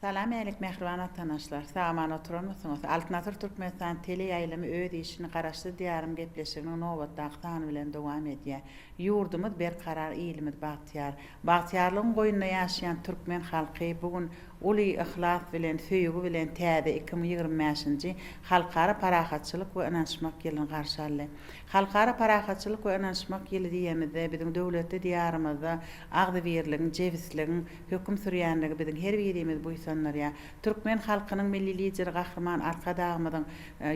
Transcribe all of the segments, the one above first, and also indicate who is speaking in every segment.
Speaker 1: Salam älik mähriban watanaşlar. Sagaman oturanmysyňyz? Altyn asyr Türkmenistan tele ýaýlymy öz işini Garaşsyz Diýarym gepleşiginiň nobatdaky sany bilen dowam edýär. Ýurdumyz berkarar ilimiz bagtyýar. Bagtyýarlygyň goýnunda ýaşaýan türkmen halky bu gün uly yhlas bilen, söýgi bilen täze iki müň ýigrimi bäşinji Halkara parahatçylyk we ynanyşmak ýylyny garşy aldy. Halkara parahatçylyk we ynanyşmak ýyly diýemizde biziň döwletli Diýarymyzda agzybirligiň, jebisligiň, höküm sürýänligi biziň her birimizi buýsandyrýar. Türkmen halkynyň Milli Lideri Gahryman Arkadagymyzyň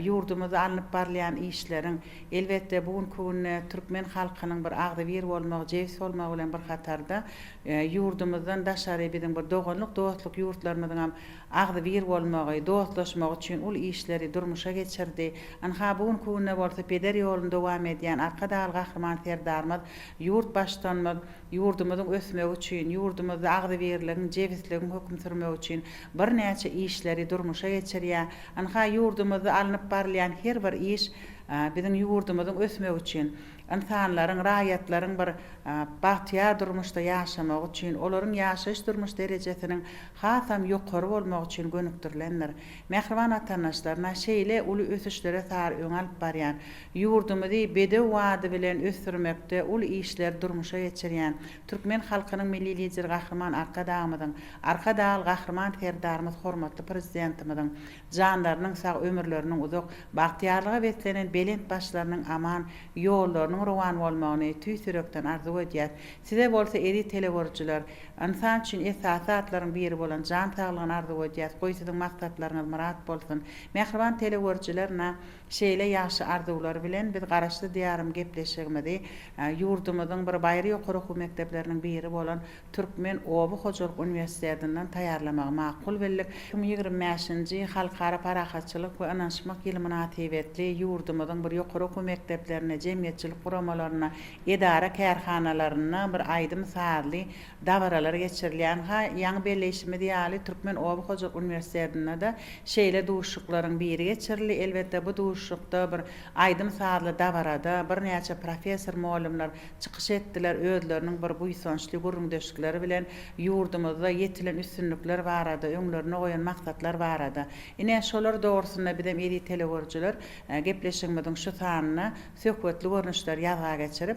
Speaker 1: ýurdumyzda alnyp barylýan işleriň, elbetde, bu günki günde türkmen halkynyň bir agzybir bolmagy, jebis bolmagy bilen bir hatarda, ýurdumyzdan daşary biziň bir doganlyk, dostluk ýurtlarymyzyňam agzybir bolmagy, dostlaşmagy üçin uly işleri durmuşa geçirdi. Ynha, bu günki günde bolsa peder ýoluny dowam edýän Arkadagly Gahryman Serdarymyz, ýurt Baştutanymyz, Ýurdumyzyň ösmegi üçin, ýurdumyzda agzybirligiň, jebisligiň höküm sürmegi üçin birnäçe işleri durmuşa geçirýär. Ynha, ýurdumyzda alnyp barylýan her bir iş biziň ýurdumyzyň ösmegi üçin, ynsanlaryň, raýatlaryň bir bagtyýar durmuşda ýaşamagy üçin, olaryň ýaşaýyş-durmuş derejesiniň hasam ýokary bolmagy üçin gönükdirilendir. Mähriban watandaşlar, na, şeýle uly ösüşlere sary öňe alyp barýan, Ýurdumyzy bedew wady bilen ösdürmekde uly işleri durmuşa geçirýän türkmen halkynyň Milli Lideri Gahryman Arkadagymyzyň, Arkadagly Gahryman Serdarymyz hormatly Prezidentimiziň janlarynyň sag, ömürleriniň uzak, bagtyýarlyga beslenen belent başlarynyň aman, ýollarynyň rowan bolmagyny tüýs ýürekden arzuw edýäs. Size bolsa eziz telegörüjiler, ynsan üçin esasy zatlaryň biri bolan jan saglygyny arzuw edýäs, goý siziň maksatlaryňyz myrat bolsun. Mähriban telegörüjiler na. Şeýle ýagşy arzuwlar bilen biz Garaşsyz Diýarym gepleşigimizi ýurdumyzyň bir baýry ýokary okuw mekdepleriniň biri bolan Türkmen oba hojalyk uniwersitetinden taýýarlamagy makul bildik. Iki müň ýigrimi bäşinji Halkara parahatçylyk we ynanyşmak ýyly mynasybetli ýurdumyzyň bir ýokary okuw mekdeplerinde, jemgyýetçilik guramalaryna, edara-kärhanalarynda bir aýdym-sazly, dabaralar geçirilýän, ha, ýaňy belleýşimiz ýaly, Türkmen oba hojalyk uniwersitetinde-de şeýle duşuşyklaryň biri geçirildi. Elbetde, bu duşuşykda bir aýdym-sazly dabarada birnäçe professor-mugallymlar çykyş etdiler, özleriniň bir buýsançly gürrüňdeşlikleri bilen ýurdumyzda ýetilen üstünlikler barada, öňlerine goýan maksatlar barada, ine, şolar dogrusynda bizem eziz telegörüjiler gepleşigimiziň şu sanynda söhbetli görnüşler ýazga geçirip,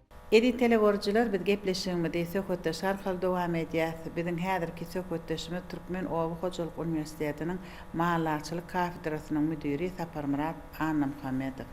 Speaker 1: Eziz telegörüjiler biz gepleşigimizi söhbetdeş arkaly dowam edýäs. Biziň häzirki söhbetdeşimiz Türkmen oba hojalyk uniwersitetiniň Mallaçylyk kafedrasynyň müdiri Saparmyrat Annamuhammedow.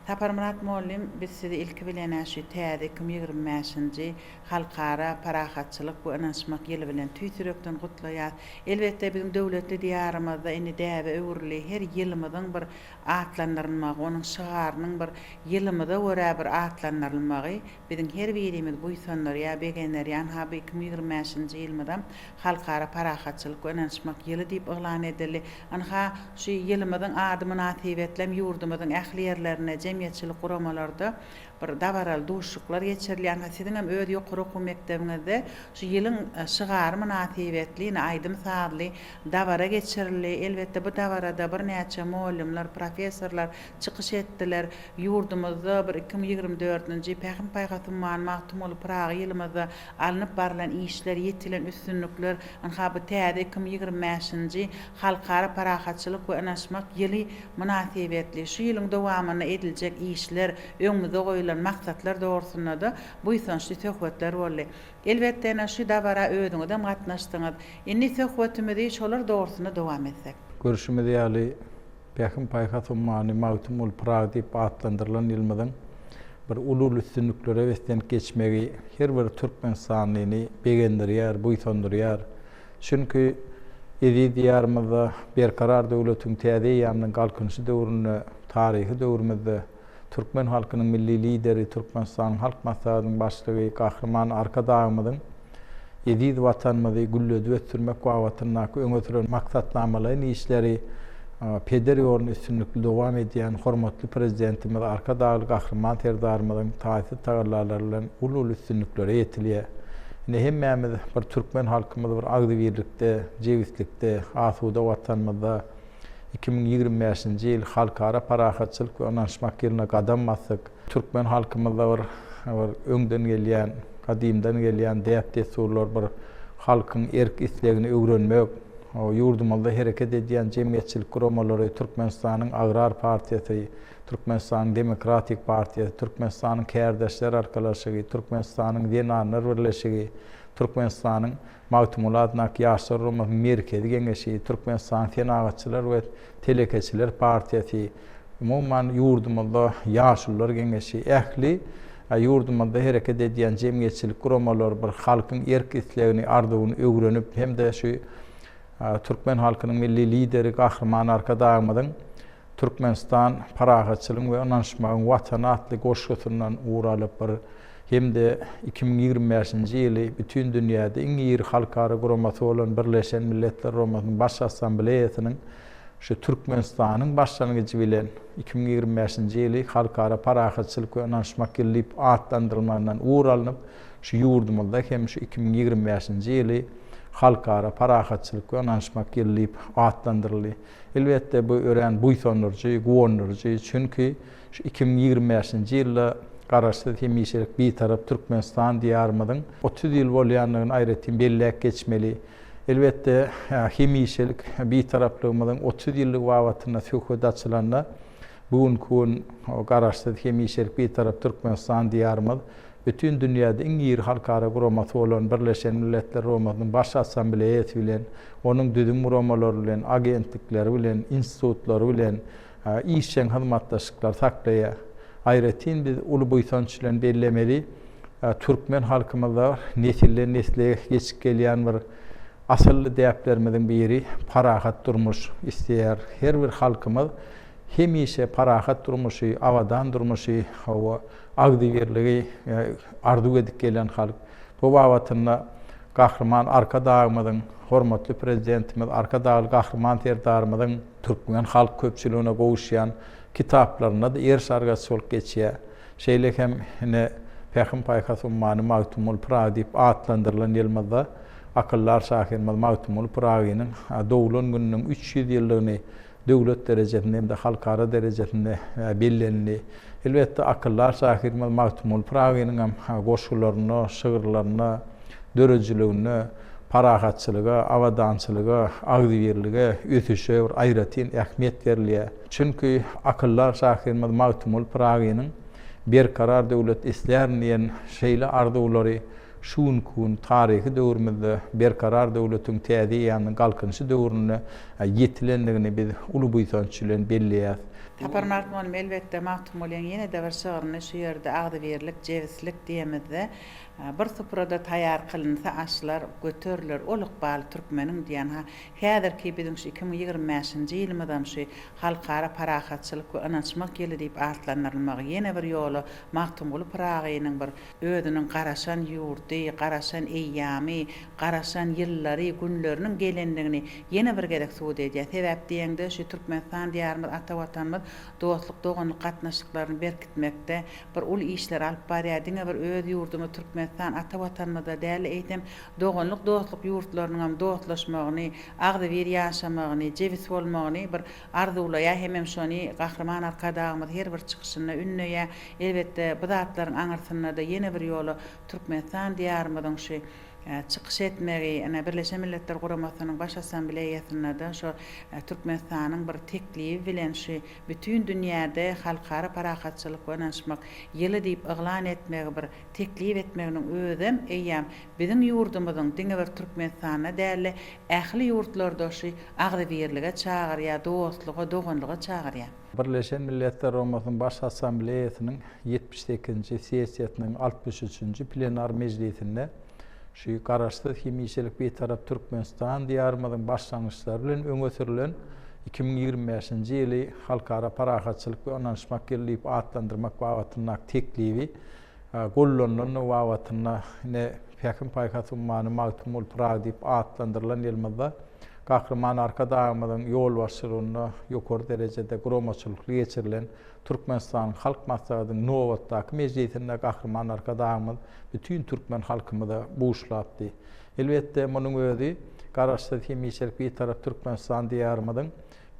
Speaker 1: Saparmyrat mollym biz sizi ilki bilenä şu täze iki müň ýigrimi bäşinji Halkara parahatçylyk we ynanyşmak ýyly bilen tüýs ýürekden gutlaýas. Elbetde biziň döwletli diýarymyzda indi däbe öwrüli her ýylymyzyň bir atlandyrylmagy, onuň şygarynyň bir ýylymyza görä bir atlandyrylmagy biziň her birimizi buýsandyrýar, begendirýär. Ynha, bu iki müň ýigrimi bäşinji ýylymyzam Halkara parahatçylyk we ynanyşmak ýyly diýip yglan edildi. Ynha, şu ýylymyzyň ady mynasybetli hem ýurdumyzyň ähli ýerlerinde, jemgyýetçilik guramalarda bir dabaraly duşuşyklar geçirilýär. Ynha, siziň hem öz ýokary okuw mekdebiňizde şu ýylyň şygary mynasybetli ine aýdym-sazly, Dabara geçirildi. Elbetde, bu dabarada birnäçe mugallymlar, professorlar çykyş etdiler. Ýurdumyzda bir iki müň ýigrimi dördünji Pähim-paýhas ummany Magtymguly Pyragy ýylymyzda alnyp barylan işler, ýetilen üstünlikler, ynha, bu täze iki müň ýigrimi bäşinji Halkara parahatçylyk we ynanyşmak ýyly mynasybetli şu ýylyň dowamynda ediljek işler, öňümizde goýlan maksatlar dogrusynda-da buýsançly söhbetler boldy. Elbetde ene şu dabara özüňizem gatnaşdyňyz. Indi söhbetimizi şolar dogrusynda dowam etsek. Görşümiz ýaly,
Speaker 2: Pähim-paýhas ummany Magtymguly Pyragy diýip atlandyrylan ýylymyzyň bir uly-uly üstünliklere beslenip geçmegi her bir türkmenistanlyny begendirýär, buýsandyrýar. Çünki eziz Diýarymyzda Berkarar döwletiň täze eýýamynyň Galkynyşy döwründe, taryhy döwrümizde, Türkmen halkynyň Milli Lideri, Türkmenistanyň Halk Maslahatynyň Başlygy Gahryman Arkadagymyzyň eziz Watanymyzy gülledip ösdürmek babatyndaky öňe süren maksatnamalaýyn işleri peder ýolunda üstünlikli dowam edýän hormatly Prezidentimiz Arkadagly Gahryman Serdarymyzyň taýsyz tagallalary bilen uly-uly üstünliklere ýetilýär. Ine, hemmämiz bir türkmen halkymyz bir agzybirlikde, jebislikde, asuda Watanymyzda, Iki müň ýigrimi bäşinji ýyl Halkara parahatçylyk we ynanyşmak ýylyna gadam basdyk. Türkmen halkymyzda bir bir öňden gelýän, gadymdan gelýän däp-dessurlar, bir halkyň erk-islegini öwrenmek, ýurdumyzda hereket edýän jemgyýetçilik guramalary, Türkmenistanyň Agrar partiýasy, Türkmenistanyň Demokratik partiýasy, Türkmenistanyň Kärdeşler arkalaşygy, Türkmenistanyň Zenanlar birleşigi, Türkmenistanyň Magtymguly Adyndaky Ýaşlar guramasy Merkezi Geňeşi, Türkmenistanyň Senagatçylar we telekeçiler partiýasy, umuman, ýurdumyzda Ýaşulular Geňeşi, ähli ýurdumyzda hereket edýän jemgyýetçilik guramalary bir halkyň erk-islegini, arzuwyny öwrenip hem-de şu türkmen halkynyň Milli Lideri Gahryman Arkadagymyzyň Türkmenistan Parahatçylygyň we ynanyşmagyň Watany atly goşgusyndan ugur alypdyr hem-de iki müň ýigrimi bäşinji ýyly bütin dünýäde iň iri halkara guramasy bolan Birleşen Milletler Guramasynyň Baş Assambleýasynyň şu Türkmenistanyň başlangyjy bilen iki müň ýigrimi bäşinji ýyly Halkara parahatçylyk we ynanyşmak ýyly diýip atlandyrylmagyndan ugur alnyp şu ýurdumyzda hem şu iki müň ýigrimi bäşinji ýyly Halkara parahatçylyk we ynanyşmak ýyly diýip atlandyryldy. Elbetde, bu örän buýsandyryjy, guwandyryjy, çünki şu iki müň ýigrimi bäşinji ýylda Garaşsyz, hemişelik Bitarap Türkmenistan diýarymyzyň otuz ýyl bolýandygyny aýratyn belläp geçmeli. Elbetde, hemişelik Bitaraplygymyzyň otuz ýyllygy babatynda söhbet açylanda, Bu günki gün Garaşsyz, hemişelik Bitarap Türkmenistan Diýarymyz bütin dünýäde iň iri halkara guramasy bolan Birleşen Milletler Guramasynyň Baş Assambleýasy bilen, onuň düzüm guramalary bilen, agentlikleri bilen, institutlary bilen işjeň hyzmatdaşlyklary saklaýar. Aýratyn biz uly buýsanç bilen bellemeli, türkmen halkymyzda nesilden-nesle geçip gelýän bir Asylly däplerimiziň biri parahat durmuş isleýär. Her bir halkymyz hemişe parahat durmuşy, abadan durmuşy, hawa, agzybirligi arzuw edip gelýän halk. Bu babatynda Gahryman Arkadagymyzyň, hormatly Prezidentimiz Arkadagly Gahryman Serdarymyzyň türkmen halk köpçüligine gowuşýan kitaplarynda-da ýer sargasy bolup geçýär. Şeýle hem ine, Pähim-paýhas ummany Magtymguly Pyragy diýip atlandyrylan ýylymyzda akyldar şahyrymyz Magtymguly Pyragynyň doglan gününiň üç ýüz ýyllygyny döwlet derejesinde hem-de halkara derejesinde bellenildi. Elbetde, akyldar şahyrymyz Magtymguly Pyragynyň hem goşgularynda, şygyrlarynda, döredijiliginde parahatçylyga, abadançylyga, agzybirlige, ösüşe bir aýratyn ähmiýet berilýär. Çünki akyldar şahyrymyz Magtymguly Pyragynyň Berkarar döwlet islärin diýen şeýle arzuwlary şu günki gün taryhy döwrümizde Berkarar döwletiň täze eýýamynyň Galkynyşy döwründe ýetilendigini biz uly buýsanç bilen belleýäs. Sapar Magtymguly
Speaker 1: elbetde Magtymgulyň ýene-de bir şygryny şu ýerde agzybirlik, jebislik diýemizde, Bir suprada taýýar kylynsa aşlar, Göteriler ol ykbaly türkmeniň diýen Häzirki biziň şu iki müň ýigrimi bäşinji ýylymyzam şu Halkara parahatçylyk we ynanyşmak ýyly diýip atlandyrylmagy ýene bir ýola Magtymguly Pyragynyň bir özüniň garaşan ýurdy, garaşan eýýamy, garaşan ýyllary, günleriniň gelendigini ýene bir gezek subut edýär. Sebäp diýeňde şu Türkmenistan diýarymyz, ata Watanymyz dostluk-doganlyk gatnaşyklaryny berkitmekde bir uly işleri alyp barýar. Diňe bir öz ýurdumyz Türkmenistan, ata Watanymyzda däl-de, eýsem, doganlyk-dostluk ýurtlarynyňam dostlaşmagyny, agzybir ýaşamagyny, jebis bolmagyny bir arzuwlaýar hemem şony Gahryman Arkadagymyz her bir çykyşynda ündeýär. Elbetde, bu zatlaryň aňyrsynda-da ýene bir ýola Türkmenistan Diýarymyzyň şu çykyş etmegi, ine, Birleşen Milletler Guramasynyň Baş Assambleýasynda-da şu Türkmenistanyň bir teklibi bilen şu bütin dünýäde Halkara parahatçylyk we ynanyşmak ýyly diýip yglan etmegi bir teklip etmeginiň özem eýýäm biziň ýurdumyzyň diňe bir Türkmenistanda däl-de, ähli ýurtlarda şu agzybirlige çagyrýar, dostluga, doganlyga çagyrýar. Birleşen Milletler
Speaker 2: Guramasynyň Baş Assambleýasynyň ýetmiş sekizinji sessiýasynyň altmyş üçünji plenar mejlisinde şu Garaşsyz, hemişelik Bitarap Türkmenistan Diýarymyzyň başlangyçlary bilen öňe sürlen iki müň ýigrimi bäşinji ýyly Halkara parahatçylyk we ynanyşmak ýyly diýip atlandyrmak babatyndaky teklibi Gollanylandygy babatynda ine Pähim-paýhas ummany Magtymguly Pyragy diýip atlandyrylan ýylymyzda Gahryman Arkadagymyzyň ýolbaşçylygynda ýokary derejede guramaçylykly geçirilen Türkmenistanyň Halk Maslahatynyň nobatdaky mejlisinde Gahryman Arkadagymyz bütin türkmen halkymyza buşlapdy. Elbetde, munuň özi Garaşsyz, hemişelik Bitarap Türkmenistan diýarymyzyň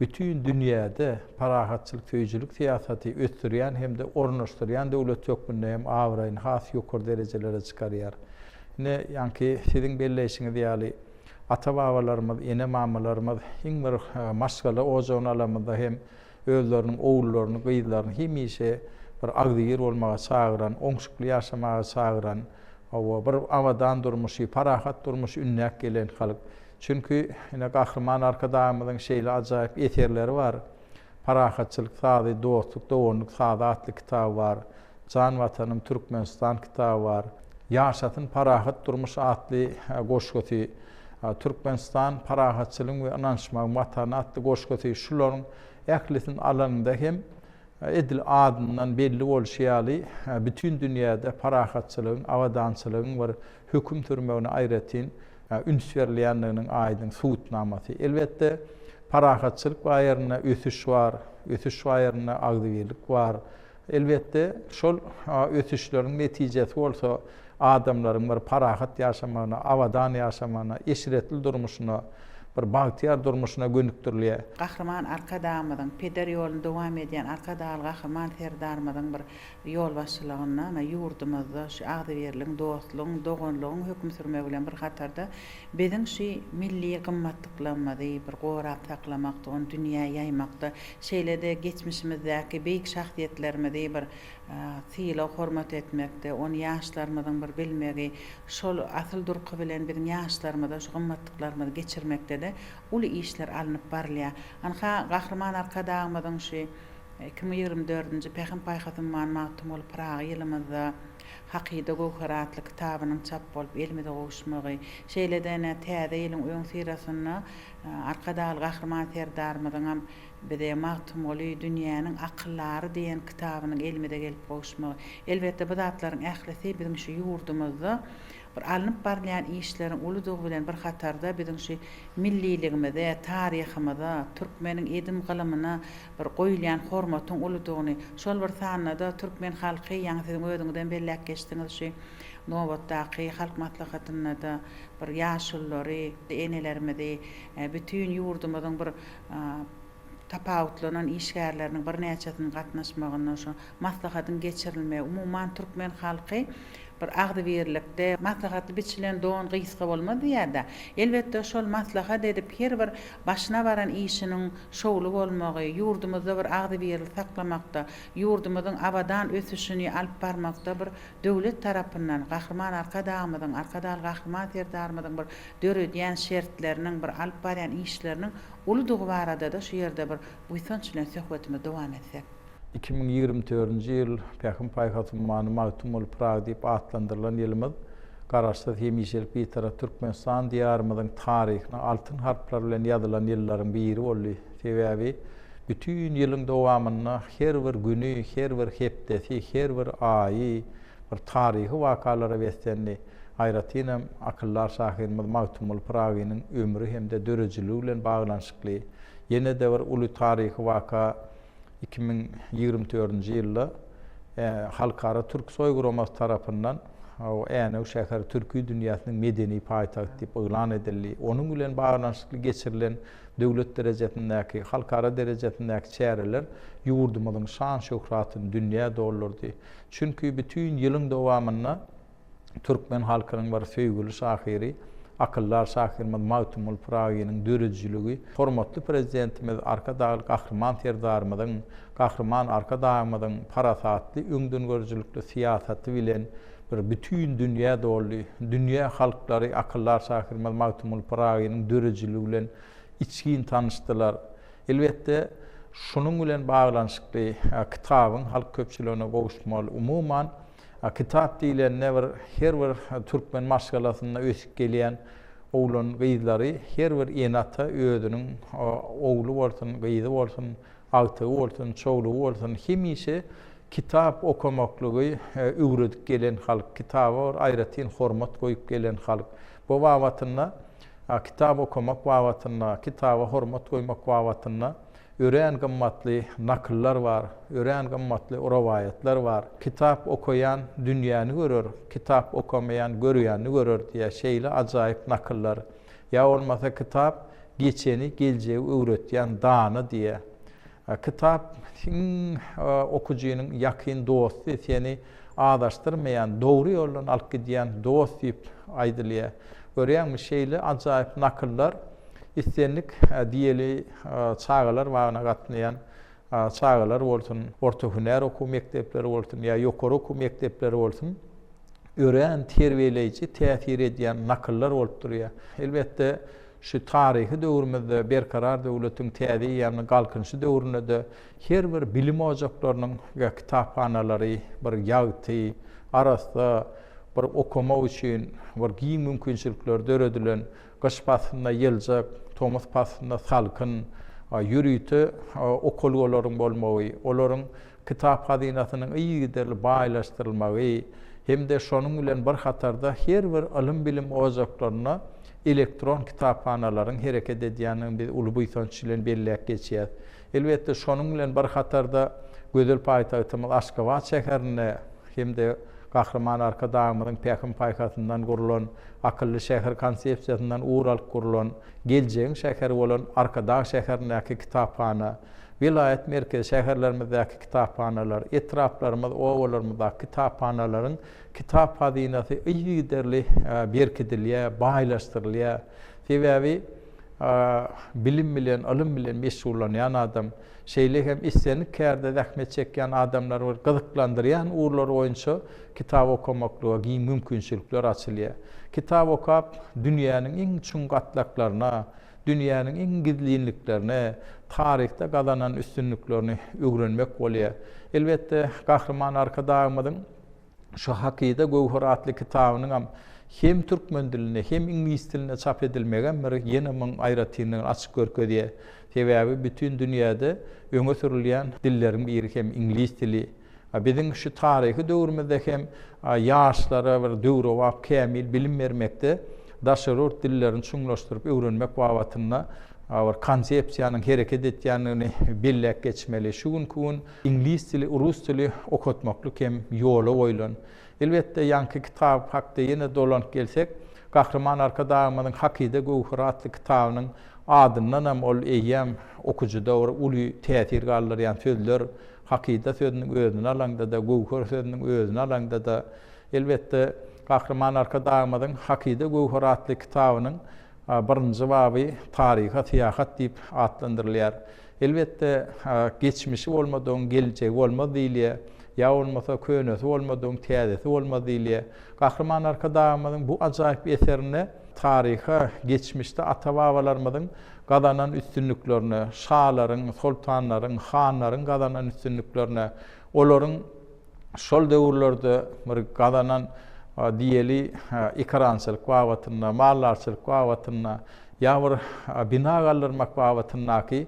Speaker 2: Bütin dünýäde parahatçylyk söýüjilik syýasaty ösdürýän hem-de ornaşdyrýan döwlet hökmünde hem abraýyny has ýokary derejelere çykarýar. Ine, ýaňky siziň belleýşiňiz ýaly, ata-babalarymyz, ene-mamalarymyz iň bir maşgala ojagyny alamyzda hem özleriniň ogullaryny, gyzlaryny hemişe bir agzybir bolmaga çagyran, oňşukly ýaşamaga çagyran, hawa, bir abadan durmuşy, parahat durmuşy ündäp gelen halk. Çünki, ine, Gahryman Arkadagymyzyň şeýle ajaýyp eserleri bar. Parahatçylyk sazy, Dostluk, doganlyk sazy atly kitaby bar. Jan Watanym, Türkmenistan kitaby bar. Ýaşasyn parahat durmuş atly goşgusy, Türkmenistan, parahatçylygyň we ynanyşmagyň Watany atly goşgusy, şularyň ählisini alanyňda hem, edil adyndan belli bolşy ýaly, bütin dünýäde parahatçylygyň, abadançylygyň bir höküm sürmegine aýratyn üns berilýändiginiň aýdyň subutnamasy. Elbetde, parahatçylyk baýarynda ösüş bar, ösüş baýarynda agzybirlik bar. Elbetde, şol ösüşleriň netijesi bolsa adamlaryň bir parahat ýaşamagyna, abadan ýaşamagyna, eşretli durmuşyna, bir bagtyýar durmuşyna gönükdirilýär. Gahryman
Speaker 1: Arkadagymyzyň, peder ýoluny dowam edýän Arkadagly Gahryman Serdarymyzyň bir ýolbaşçylygynda ana ýurdumyzda şu agzybirligiň, dostlugyň, doganlygyň höküm sürmegi bilen bir hatarda biziň şu milli gymmatlyklarymyzy bir gorap saklamakda, ony dünýä ýaýmakda, şeýle-de geçmişimizdäki beýik şahsyýetlerimizi bir sylag-hormat etmekde, ony ýaşlarymyzyň bir bilmegi, şol asyl durky bilen biziň ýaşlarymyza şu gymmatlyklarymyzy geçirmekde-de uly işler alnyp barylýar. Ynha, Gahryman Arkadagymyzyň şu Iki müň ýigrimi dördünji Pähim-paýhas ummany Magtymguly Pyragy ýylymyzda Hakyda göwher atly kitabynyň çap bolup elimize gowuşmagy, şeýle-de ine, täze ýylyň öňüsyrasynda Arkadagly Gahryman Serdarymyzyňam bize Magtymguly, dünýäniň akyllary diýen kitabynyň elimize gelip gowuşmagy, elbetde, bu zatlaryň ählisi biziň şu ýurdumyzda bir alnyp barylýan işleriň uludygy bilen bir hatarda biziň şu milliligimize, taryhymyza, türkmeniň edim-gylymyna bir goýulýan hormatyň uludygyny, şol bir sanda-da türkmen halky, ýaňy siziň özüňizem belläp geçdiňiz, şu nobatdaky Halk Maslahatynda-da bir ýaşululary, enelerimizi, bütin ýurdumyzyň bir tapawutlanan işgärleriniň birnäçesiniň gatnaşmagynda şu Maslahatyň geçirilmegi, umuman, türkmen halky bir agzybirlikde, Maslahatly biçilen don gysga bolmaz diýýär-dä. Elbetde, şol maslahat edip, her bir başyna baran işiniň şowly bolmagy, ýurdumyzda bir agzybirli saklamakda, ýurdumyzyň abadan ösüşini alyp barmakda bir döwlet tarapyndan, Gahryman Arkadagymyzyň, Arkadagly Gahryman Serdarymyzyň bir döredýän şertleriniň, bir alyp barýan işleriniň uludygy barada-da şu ýerde bir buýsanç bilen söhbetimizi dowam etsek. Iki müň ýigrimi
Speaker 2: dördünji ýyl Pähim-paýhas ummany Magtym bolup Pyragy diýip atlandyrylan ýylymyz Garaşsyz, hemişelik Bitarap Türkmenistan Diýarymyzyň taryhyna altyn harplar bilen ýazylan ýyllaryň biri boldy. Sebäbi bütin ýylyň dowamynda her bir güni, her bir hepdesi, her bir aýy bir taryhy wakalara beslendi. Aýratynam akyldar şahyrymyz Magtym bolup Pyragynyň ömri hem-de döredijiligi bilen baglanyşykly ýene-de bir uly taryhy waka, iki müň ýigrimi dördünji ýylda Halkara Türksoý guramasy tarapyndan Änew şäheri Türki dünýäsiniň medeni paýtagty diýip yglan edildi. Onuň bilen baglanyşykly geçirilen döwlet derejesindäki, halkara derejesindäki çäreler ýurdumyzyň şan-şöhratyny dünýä doldurdy. Çünki bütin ýylyň dowamynda, türkmen halkynyň bir söýgüli şahyry, akyldar şahyrymyz Magtymguly Pyragynyň döredijiligi, hormatly Prezidentimiz Arkadagly Gahryman Serdarymyzyň, Gahryman Arkadagymyzyň parasatly, öňdengörüjilikli syýasaty bilen bir bütin dünýä doldy. Dünýä halklary akyldar şahyrymyz Magtymguly Pyragynyň döredijiligi bilen içgin tanyşdylar. Elbetde, şunuň bilen baglanyşykly kitabyň halk köpçüligine gowuşmaly, umuman, A kitap diýlende bir her bir türkmen maşgalasynda ösüp gelýän oglan gyzlary her bir ene ata özüniň ogly bolsun gyzy bolsun agtygy bolsun çowlugy bolsun hemişe kitap okamaklygy öwredip gelen halk kitaba bir aýratyn hormat goýup gelen halk bu babatynda kitap okamak babatynda kitaba hormat goýmak babatynda Örän gymmatly nakyllar bar, örän gymmatly rowaýatlar bar. Kitap okaýan dünýäni görer, kitap okamaýan görýänini görer diýýär. Şeýle ajaýyp nakyllar. Ýa bolmasa kitap geçeni, geljegi öwretýän dana diýýär. Kitap iň okujynyň ýakyn dosty, seni Azaşdyrmaýan, dogry ýoldan alyp gidýän dost diýip aýdylýar. Görýäňmi, şeýle ajaýyp nakyllar islendik diýeli çagalar bagyna gatnaýan çagalar bolsun, orta hünär okuw mekdepleri bolsun ýa ýokary okuw mekdepleri bolsun, örän terbiýeleýji täsir edýän nakyllar bolup durýar. Elbetde, şu taryhy döwrümizde Berkarar döwletiň täze eýýamynyň Galkynyşy döwründe-de Her bir bilim ojaklarynyň we kitaphanalary bir ýagty, arassa, bir okamak üçin bir giň mümkinçilikler döredilen, gyş paslynda ýyljak, tomus paslynda salkyn, ýörite okalgalaryň bolmagy, olaryň kitap hazynasynyň yzygiderli baýlaşdyrylmagy hem-de şonuň bilen bir hatarda her bir ylym-bilim ojaklarynda elektron kitaphanalaryň hereket edýändigini biz uly buýsanç bilen belläp geçýäs. Elbetde, şonuň bilen bir hatarda gözel paýtagtymyz Aşgabat şäherinde hem-de Gahryman Arkadagymyzyň pähim-paýhasyndan gurlan Akylly şäher konsepsiýasyndan ugur alyp gurlan Geljegiň şäheri bolan Arkadag şäherindäki kitaphana, welaýat merkezi şäherlerimizdäki kitaphanalar, etraplarymyz, obalarymyzdaky kitaphanalaryň kitap hazynasy yzygiderli berkidilýär, baýlaşdyrylýar. Sebäbi. bilim bilen, ylym bilen meşgullanýan adam, şeýle hem islendik kärde zähmet çekýän adamlary bir gyzyklandyrýan ugurlar boýunça kitap okamaklyga giň mümkinçilikler açylýar. Kitap okap, dünýäniň iň çuň gatlaklaryna, dünýäniň iň gizlinliklerine, taryhda gazanan üstünliklerini öwrenmek bolýar. Elbetde, Gahryman Arkadagymyzyň Şu hakyda göwher atly kitabynyňam hem türkmen dilinde, hem iňlis dilinde çap edilmegem bir ýene muň aýratynlygyny açyp görkezýär. Sebäbi bütin dünýäde öňe sürülýän dilleriň biri hem iňlis dili. A biziň şu taryhy döwrümizde hem ýaşlara bir döwrebap, kämil bilim bermekde daşary ýurt dillerini çuňlaşdyryp öwrenmek babatynda bir konsepsiýanyň hereket etýändigini belläp geçmeli. Şu günki gün Iňlis dili, rus dili okatmaklyk hem ýola goýlan. Elbetde, ýaňky kitap hakda ýene dolanyp gelsek, Gahryman Arkadagymyzyň Hakyda göwheri atly kitabynyň adyndanam ol eýýäm okyjyda bir uly täsir galdyrýan sözler, hakyda sözüniň özüni alaňda-da, göwher sözüniň özüni alaňda-da, elbetde, Gahryman Arkadagymyzyň Hakyda göwheri atly kitabynyň Birinji baby Taryha syýahat diýip atlandyrylýar. Elbetde, geçmişi bolmadygyň geljegi bolmaz diýilýär, ýa bolmasa könesi bolmadygyň täzesi bolmaz diýilýär. Gahryman Arkadagymyzyň bu ajaýyp eserinde taryha, geçmişde ata-babalarymyzyň gazanan üstünliklerine, şalaryň, soltanlaryň, hanlaryň gazanan üstünliklerine, olaryň. şol döwürlerde bir gazanan diýeli ekerançylyk babatynda, maldarçylyk babatynda ýa bir bina galdyrmak babatyndaky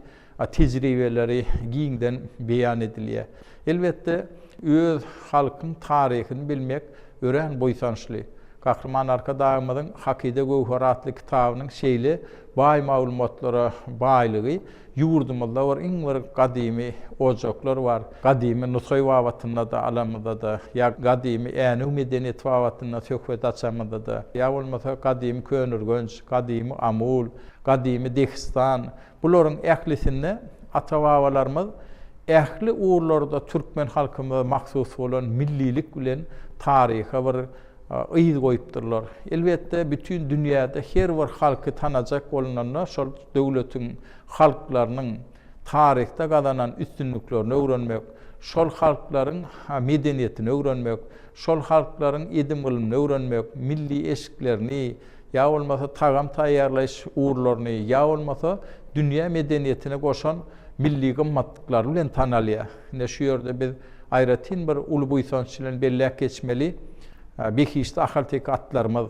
Speaker 2: tejribeleri giňden beýan edilýär. Elbetde, öz halkyň taryhyny bilmek örän buýsançly. Gahryman Arkadagymyzyň Hakyda göwher atly kitabynyň şeýle baý maglumatlara baýlygy, Ýurdumyzda bir iň bir gadymy ojaklar bar. Gadymy Nusaý babatynda-da alamyzda-da, ýa gadymy Änew medeniýeti babatynda söhbet açamyzda-da, ýa bolmasa gadymy Köneürgenç, gadymy Amul, gadymy Dehistan, bularyň ählisinde ata-babalarymyz ähli ugurlarda türkmen halkymyza mahsus bolan millilik bilen taryha bir yz goýupdyrlar. Elbetde, bütin dünýäde her bir halky tanajak bolunanda şol döwletiň halklarynyň taryhda gazanan üstünliklerini öwrenmek, şol halklaryň medeniýetini öwrenmek, şol halklaryň edim-gylymyny öwrenmek, milli eşiklerini ýa bolmasa tagam taýýarlaýyş ugurlaryny ýa bolmasa dünýä medeniýetine goşan milli gymmatlyklary bilen tanalýar. Ine şu ýerde biz aýratyn bir uly buýsanç bilen belläp geçmeli, behişdi ahalteke atlarymyz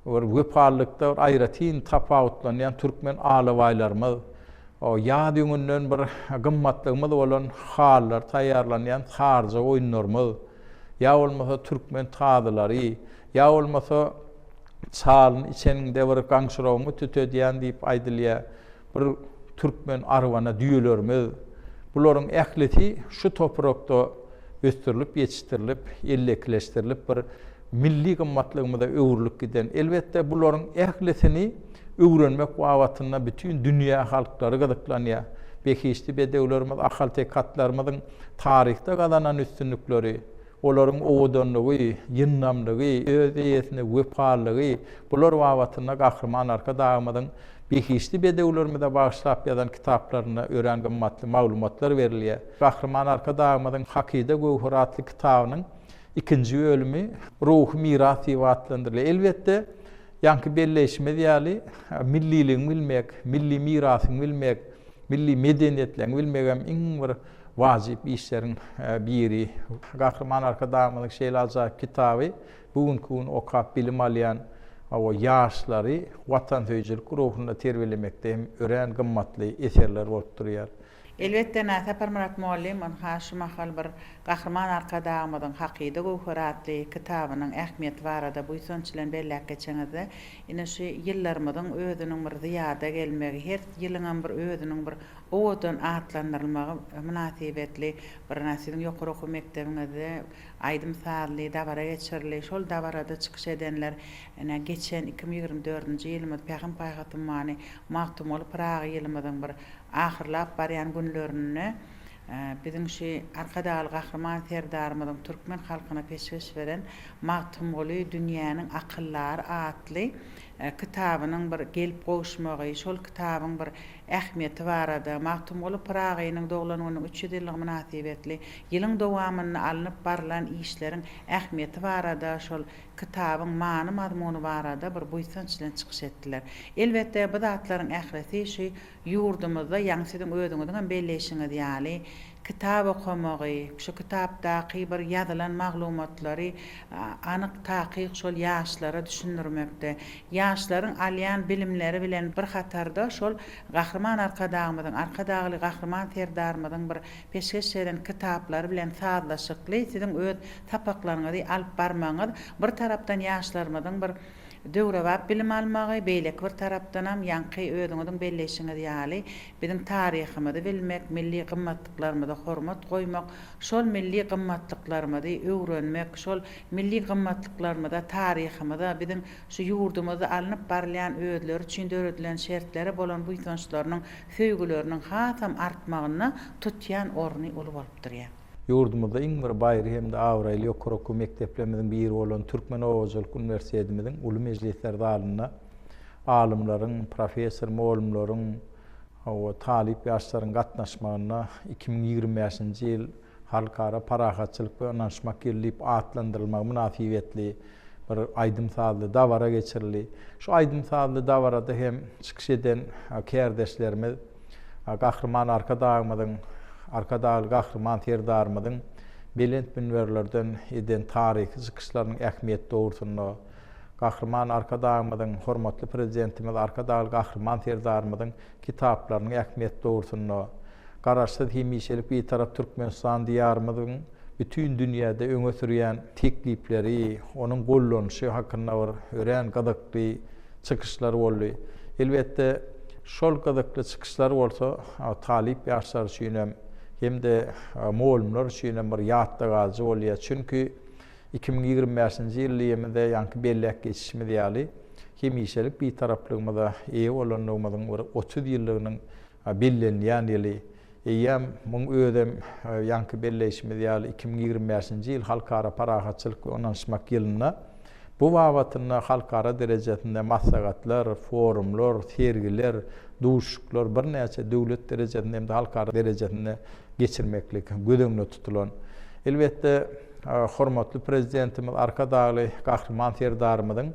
Speaker 2: bir wepalylykda bir aýratyn tapawutlanýan türkmen alabaýlarymyz, ýaz ýüňünden bir gymmatlygymyz bolan halylar taýýarlanýan saryja goýunlarymyz, ýa bolmasa türkmen tazylary, ýa bolmasa çalyny içeniňde bir gaňşyragyňy tütedýän diýip aýdylýar. Bir türkmen arwana düýelerimiz, bularyň ählisi şu toprakda ösdürilip ýetişdirilip, ellekileşdirilip bir milli gymmatlygymyza öwrülip giden. Elbetde bularyň ählisini öwrenmek babatynda bütin dünýä halklary gyzyklanýar. Behişdi bedewlerimiz, ahalteke atlarymyzyň taryhda gazanan üstünlikleri, Olaryň owadanlygy, ýyndamlygy, öz eýesine wepalylygy, bular babatynda Gahryman Arkadagymyzyň behişdi bedewlerimize bagyşlap ýazan kitaplarynda örän gymmatly maglumatlar berilýär. Gahryman Arkadagymyzyň Hakyda göwher atly kitabynyň ikinji bölümi Ruhy miras diýip atlandyrylýar. Elbetde, ýaňky belleýşimiz ýaly, milliligiňi bilmek, milli mirasyňy bilmek, milli medeniýetleňi bilmegem iň bir Wajyp işleriň biri. Gahryman Arkadagymyzyň şeýle ajaýyp kitaby bu günki gün okap bilim alýan ýaşlary watansöýüjilik ruhunda terbiýelemekde hem örän gymmatly eserler bolup durýar. Elbetde-na,
Speaker 1: Saparmyrat mugallym ynha şu mahal bir Gahryman Arkadagymyzyň Hakyda göwher atly kitabynyň ähmiýeti barada buýsanç bilen belläp geçeňizde, ine şu ýyllarymyzyň özüniň bir zyýada gelmegi, her ýylyňam bir özüniň bir owadan atlandyrylmagy mynasybetli bir siziň ýokary okuw mekdebiňizde aýdym-sazly dabara geçirildi. Şol dabarada çykyş edenler ine, geçen iki müň ýigrimi dördünji ýylymyz Pähim-paýhas ummany Magtymguly Pyragy ýylymyzyň bir ahyrlap barýan günlerinde biziň şu Arkadagly Gahryman Serdarymyzyň türkmen halkyna peşgeş beren Magtymguly, dünýäniň akyldary atly kitabynyň bir gelip gowuşmagy, şol kitabyň bir ähmiýeti barada, Magtymguly Pyragynyň doglan gününiň üç ýüz ýyllygy mynasybetli ýylyň dowamynda alnyp barlan işleriň ähmiýeti barada, şol kitabyň many-mazmuny barada bir buýsanç bilen çykyş etdiler. Elbetde, bu zatlaryň ählisi şu ýurdumyzda, ýagny siziň özüňiziň hem belleýşiňiz ýaly, Kitap okamagy, şu kitapdaky bir ýazylan maglumatlary anyk, takyk şol ýaşlara düşündirmekde, ýaşlaryň alýan bilimleri bilen bir hatarda şol Gahryman Arkadagymyzyň, Arkadagly Gahryman Serdarymyzyň bir peşgeş eden kitaplary bilen sazlaşykly siziň öz sapaklaryňyzy alyp barmagyňyz bir tarapdan ýaşlarymyzyň bir Döwrebap bilim almagy, beýleki bir tarapdanam, ýaňky özüňiziň belleýşiňiz ýaly, biziň taryhymyzy bilmek, milli gymmatlyklarymyza hormat goýmak, şol milli gymmatlyklarymyzy öwrenmek, şol milli gymmatlyklarymyza, taryhymyza, biziň şu ýurdumyzda alnyp barylýan özleri üçin döredilen şertlere bolan buýsançlarynyň, söýgüleriniň hasam artmagynda tutýan orny uly bolup durýar. Ýurdumyzda iň bir
Speaker 2: baýry hem-de abraýly ýokary okuw mekdeplerimiziň biri bolan Türkmen oba hojalyk uniwersitetimiziň uly mejlisler zalynda alymlaryň, professor-mugallymlaryň we talyp ýaşlaryň gatnaşmagynda iki müň ýigrimi bäşinji ýyl Halkara parahatçylyk we ynanyşmak ýyly diýip atlandyrylmagy mynasybetli bir aýdym-sazly dabara geçirildi. Şu aýdym-sazly dabarada hem çykyş eden kärdeşlerimiz, Gahryman Arkadagymyzyň, Arkadagly Gahryman Serdarymyzyň belent münberlerden eden taryhy çykyşlarynyň ähmiýeti dogrusynda, Gahryman Arkadagymyzyň, hormatly Prezidentimiz Arkadagly Gahryman Serdarymyzyň kitaplarynyň ähmiýeti dogrusynda, Garaşsyz, hemişelik Bitarap Türkmenistan Diýarymyzyň, bütin dünýäde öňe sürýän teklipleri, onuň gollanyşy hakynda bir örän gyzykly çykyşlar boldy. Elbetde, şol gyzykly çykyşlar bolsa talyp ýaşlar üçin hem, hem-de mugallymlar üçin hem bir ýatda galyjy bolýar. Çünki iki müň ýigrimi bäşinji ýylymyzda ýaňky belläp geçişimiz ýaly, hemişelik Bitaraplygymyza eýe bolanlygymyzyň bir otuz ýyllygynyň Bellenilýän ýyly eýýäm, muň özem ýaňky belleýşimiz ýaly iki müň ýigrimi bäşinji ýyl Halkara parahatçylyk we ynanyşmak ýylynda bu babatynda halkara derejesinde maslahatlar, forumlar, sergiler, duşuşyklar birnäçe döwlet derejesinde hem-de halkara derejesinde geçirmeklik göz öňünde tutulan. Elbetde. Hormatly Prezidentimiz Arkadagly Gahryman Serdarymyzyň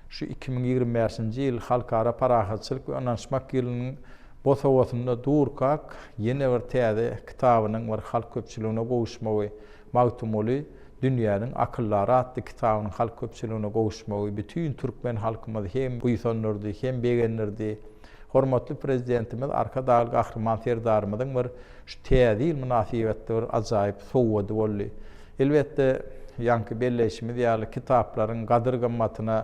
Speaker 2: şu iki müň ýigrimi bäşinji ýyl Halkara parahatçylyk we ynanyşmak ýylynyň bu howasynda durkak ýene bir täze kitabynyň bir halk köpçüligine gowuşmagy, Magtymguly, dünýäniň akyldary atly kitabynyň halk köpçüligine gowuşmagy bütin türkmen halkymyzy hem buýsandyrdy, hem begendirdi. Hormatly Prezidentimiz Arkadagly Gahryman Serdarymyzyň bir şu Täze ýyl mynasybetli bir ajaýyp sowgady boldy. Elbetde, ýaňky belleýşimiz ýaly, kitaplaryň gadyr-gymmatyna,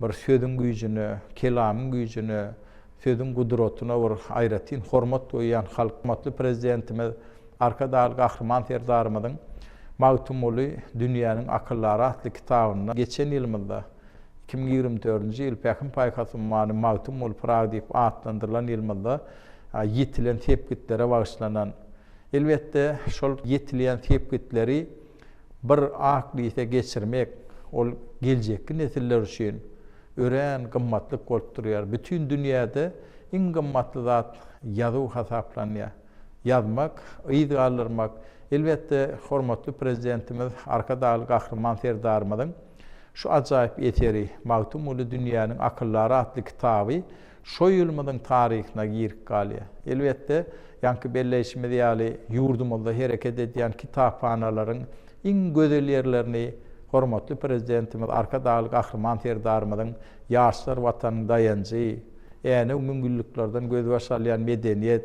Speaker 2: bir sözüň güýjüne, kelamyň güýjüne, sözüň gudratyna bir aýratyn hormat goýýan halk hormatly Prezidentimiz Arkadagly Gahryman Serdarymyzyň Magtymguly, dünýäniň akyllary atly kitabynda geçen ýylymyzda, Iki müň ýigrimi dördünji ýyl Pähim-paýhas ummany Magtym ol Pyragy diýip atlandyrylan ýylymyzda ýetilen sepgitlere bagyşlanan. Elbetde, şol ýetilýän sepgitleri bir ak lise geçirmek, ol geljekki nesiller üçin örän gymmatlyk bolup durýar. Bütin dünýäde iň gymmatly zat ýazuw hasaplanýar. Ýazmak, yz galdyrmak, elbetde, hormatly Prezidentimiz Arkadagly Gahryman Serdarymyzyň, Şu ajaýyp eseri Magtymguly dünýäniň akyldary atly kitaby şo ýylymyzyň taryhyna girip galýar. Elbetde, ýaňky belleýşimiz ýaly, ýurdumyzda hereket edýän kitaphanalaryň iň gözel ýerlerini hormatly Prezidentimiz Arkadagly Gahryman Serdarymyzyň Ýaşlar Watanyň daýanjy, Änew müňýyllyklardan gözbaş alýan medeniýet,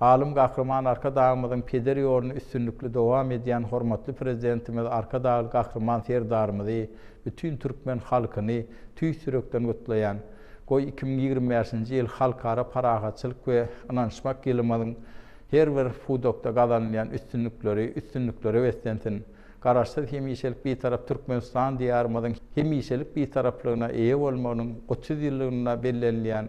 Speaker 2: Alym Gahryman Arkadagymyzyň peder ýoluny üstünlikli dowam edýän hormatly Prezidentimiz Arkadagly Gahryman Serdarymyzy, bütin türkmen halkyny tüýs ýürekden gutlaýan. Goý, iki müň ýigrimi bäşinji ýyl Halkara parahatçylyk we ynanyşmak ýylymyzyň her bir pudakda gazanylýan üstünlikleri üstünliklere beslensin! Garaşsyz, hemişelik Bitarap Türkmenistan Diýarymyzyň hemişelik Bitaraplygyna eýe bolmagynyň otuz ýyllygynda bellenilýän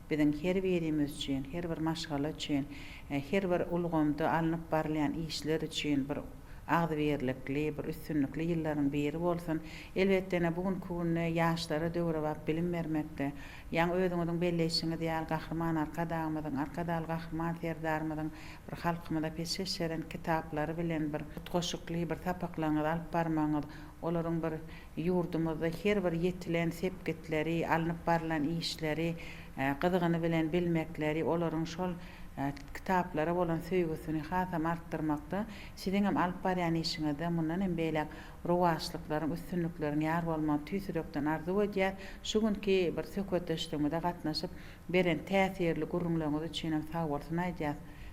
Speaker 1: Biziň her birimiz üçin, her bir maşgala üçin, her bir ulgamda alnyp barylýan işler üçin bir agzybirlikli, bir üstünlikli ýyllaryň biri bolsun. Elbetde-ne, bu günki günde ýaşlara döwrebap bilim bermekde, ýaňy özüňiziň belleýşiňiz ýaly, Gahryman Arkadagymyzyň, Arkadagly Gahryman Serdarymyzyň bir halkymyza peşgeş eden kitaplary bilen bir utgaşykly bir sapaklaryňyzy alyp barmagyňyz, olaryň bir Ýurdumyzda her bir ýetilen sepgitleri, alnyp barlan işleri gyzgyny bilen bilmekleri, olaryň şol kitaplara bolan söýgüsini hasam artdyrmakda, siziň hem alyp barýan işiňizde mundan hem beýläk rowaçlyklaryň, üstünlikleriň ýar bolmagyny tüýs ýürekden arzuw edýäs. Şu günki bir söhbetdeşligimize gatnaşyp, beren täsirli gürrüňleriňiz üçinem sagbolsun aýdýas.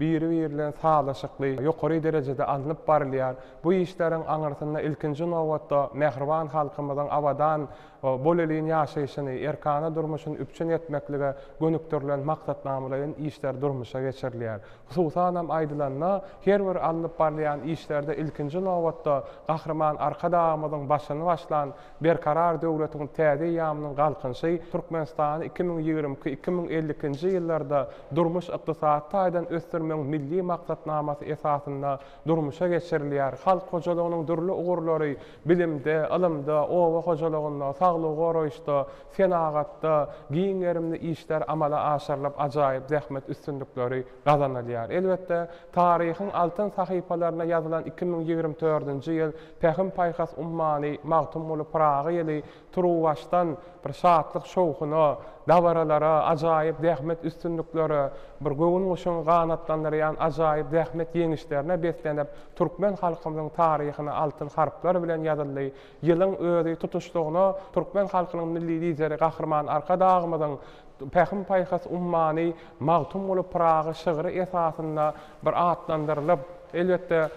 Speaker 3: biri-biri bilen sazlaşykly, ýokary derejede alnyp barylýar. Bu işleriň aňyrsynda, ilkinji nobatda, mähriban halkymyzyň abadan, bolelin ýaşaýşyny, erkana durmuşyny üpjün etmeklige gönükdirilen maksatnamalaýyn işler durmuşa geçirilýär. Hususanam aýdylanda, her bir alnyp barylýan işlerde ilkinji nobatda Gahryman Arkadagymyzyň başyny başlan Berkarar döwletiň täze eýýamynyň Galkynyşy Türkmenistany iki müň ýigrimi iki, iki müň elli ikinji ýyllarda durmuş-ykdysady taýdan ösdürmegiň Milli maksatnamasy esasynda durmuşa geçirilýär, halk hojalygynyň dürli ugurlary, bilimde, ylymda, oba hojalygynda, saglygy goraýyşda, senagatda giň gerimli işler amala aşyrylyp, ajaýyp zähmet üstünlikleri gazanylýar. Elbetde, taryhyň altyn sahypalaryna ýazylan iki müň ýigrimi dördünji ýyl Pähim-paýhas ummany Magtymguly Pyragy ýyly turuwbaşdan bir şatlyk-şowhuna, dabaralara, ajaýyp zähmet üstünliklere, bir göwün guşuny ganatlandyrýan ajaýyp zähmet ýeňişlerine beslenip, türkmen halkymyzyň taryhyna altyn harplar bilen ýazyldy. Ýylyň özi tutuşlygyna türkmen halkynyň Milli Lideri Gahryman Arkadagymyzyň Pähim-paýhas ummany Magtymguly Pyragy şygry esasynda bir atlandyrylyp, elbetde,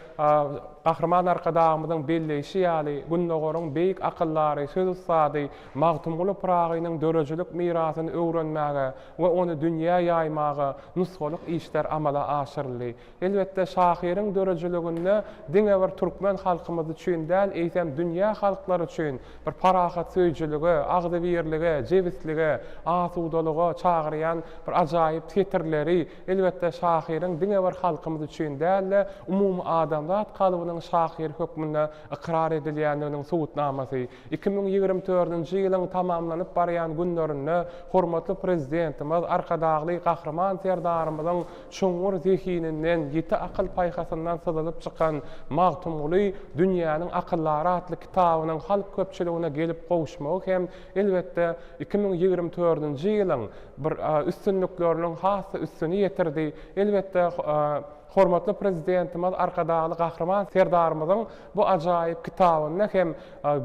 Speaker 3: Gahryman Arkadagymyzyň belleýşi ýaly, Gündogaryň beýik akyldary, söz ussady Magtymguly Pyragynyň döredijilik mirasyny öwrenmäge we ony dünýä ýaýmaga nusgalyk işler amala aşyryldy. Elbetde, şahyryň döredijiliginde diňe bir türkmen halkymyz üçin däl, eýsem, dünýä halklary üçin bir parahatsöýüjilige, agzybirlige, jebislige, asudalyga çagyrýan bir ajaýyp setirleri, elbetde, şahyryň diňe bir halkymyz üçin däl-de, umumy adamzat kalbynyň şahyry hökmünde ykrar edilýändiginiň subutnamasy. Iki müň ýigrimi dördünji ýylyň tamamlanyp barýan günlerinde hormatly Prezidentimiz Arkadagly Gahryman Serdarymyzyň Çuňňur zehininden, ýiti akyl-paýhasyndan syzylyp çykan Magtymguly dünýäniň akyllary atly kitabynyň halk köpçüligine gelip gowuşmagy hem, elbetde, iki müň ýigrimi dördünji ýylyň bir üstünlikleriniň has-da üstüni ýetirdi. Elbetde, hormatly Prezidentimiz Arkadagly Gahryman Serdarymyzyň bu ajaýyp kitabynda hem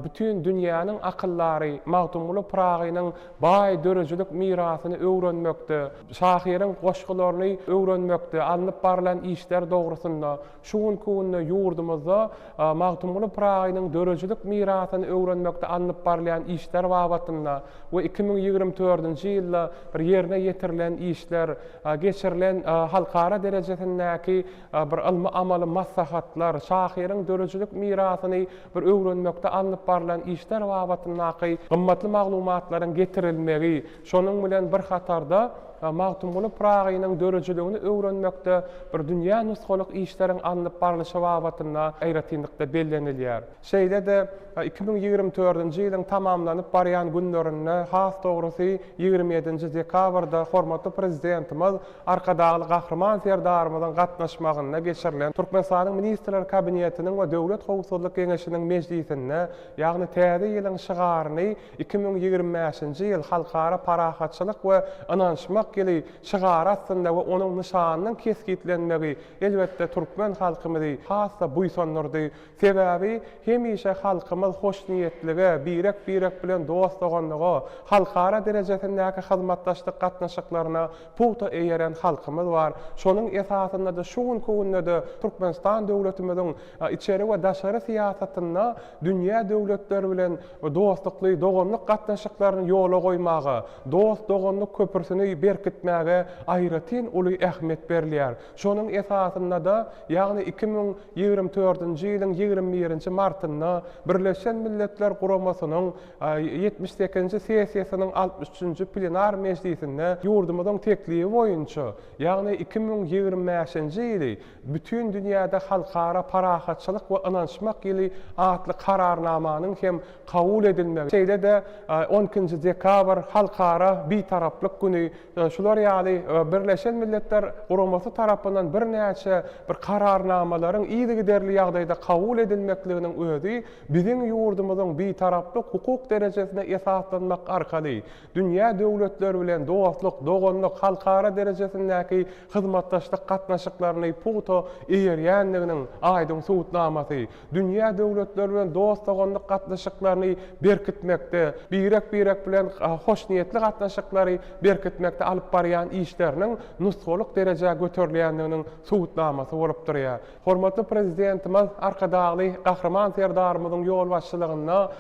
Speaker 3: bütin dünýäniň akyllary Magtymguly Pyragynyň baý döredijilik mirasyny öwrenmekde, Şahyryň goşgularyny öwrenmekde alnyp barlan işler dogrusynda şu günki günde ýurdumyzda Magtymguly Pyragynyň döredijilik mirasyny öwrenmekde alnyp barylýan işler babatynda we iki müň ýigrimi dördünji ýylda bir ýerine ýetirilen işler, geçirilen halkara derejesindäki bir ylmy-amaly maslahatlar, şahyryň döredijilik mirasyny bir öwrenmekde alnyp barlan işler babatyndaky gymmatly maglumatlaryň getirilmegi, Şonuň bilen bir hatarda, Magtymguly Pyragynyň döredijiligini öwrenmekde bir dünýä nusgalyk işleriň alnyp barlyşy babatynda aýratynlykda bellenilýär. Şeýle-de, iki müň ýigrimi dördünji ýylyň tamamlanyp barýan günlerinde, has dogrusy, ýigrimi ýedinji dekabrda hormatly Prezidentimiz Arkadagly Gahryman Serdarymyzyň gatnaşmagynda geçirilen Türkmenistanyň Ministrler Kabinetiniň we Döwlet howpsuzlyk geňeşiniň mejlisinde, ýagny Täze ýylyň şygaryny, Iki müň ýigrimi bäşinji ýyl Halkara parahatçylyk we ynanyşmak ýyly şygary astynda we onuň nyşanynyň kesgitlenmegi, elbetde, türkmen halkymyzy has-da buýsandyrdy. Sebäbi, hemişe halkymyz hoşniýetlige, birek-birek bilen dost-doganlyga, halkara derejesindäki hyzmatdaşlyk gatnaşyklaryna pugta eýeren halkymyz bar. Şonuň esasynda-da şu günki günde-de Türkmenistan döwletimiziň içeri we daşary syýasatynda dünýä döwletleri bilen dostlukly doganlyk gatnaşyklaryny ýola goýmaga, dost-doganlyk köprüsini berkitmäge aýratyn uly ähmiýet berilýär. Şonuň esasynda-da, ýagny iki müň ýigrimi dördünji ýylyň ýigrimi birinji martynda Birleşen Milletler Guramasynyň ýetmiş sekizinji sessiýasynyň altmyş üçünji plenar mejlisinde ýurdumyzyň teklibi boýunça, ýagny iki müň ýigrimi bäşinji ýyly Bütin dünýäde Halkara parahatçylyk we ynanyşmak ýyly atly Kararnamanyň hem kabul edilmegi, şeýle-de on ikinji dekabr Halkara Bitaraplyk güni şular ýaly Birleşen Milletler Guramasy tarapyndan birnäçe bir Kararnamalaryň yzygiderli ýagdaýda kabul edilmekliginiň özi biziň ýurdumyzyň Bitaraplyk hukuk derejesine esaslanmak arkaly Dünýä döwletleri bilen dostluk, doganlyk, halkara derejesindäki hyzmatdaşlyk gatnaşyklaryny pugta eýerýändiginiň aýdyň subutnamasy. Dünýä döwletleri bilen dost-doganlyk gatnaşyklaryny berkitmekde, birek-birek bilen hoşniýetli gatnaşyklary berkitmekde alyp barýan işleriniň nusgalyk derejä göterilýändiginiň subutnamasy bolup durýar. Hormatly Prezidentimiz Arkadagly Gahryman Serdarymyzyň ýolbaşçylygynda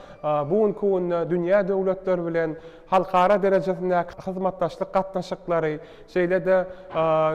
Speaker 3: bu günki günde dünýä döwletleri bilen halkara derejesindäki hyzmatdaşlyk gatnaşyklary, şeýle-de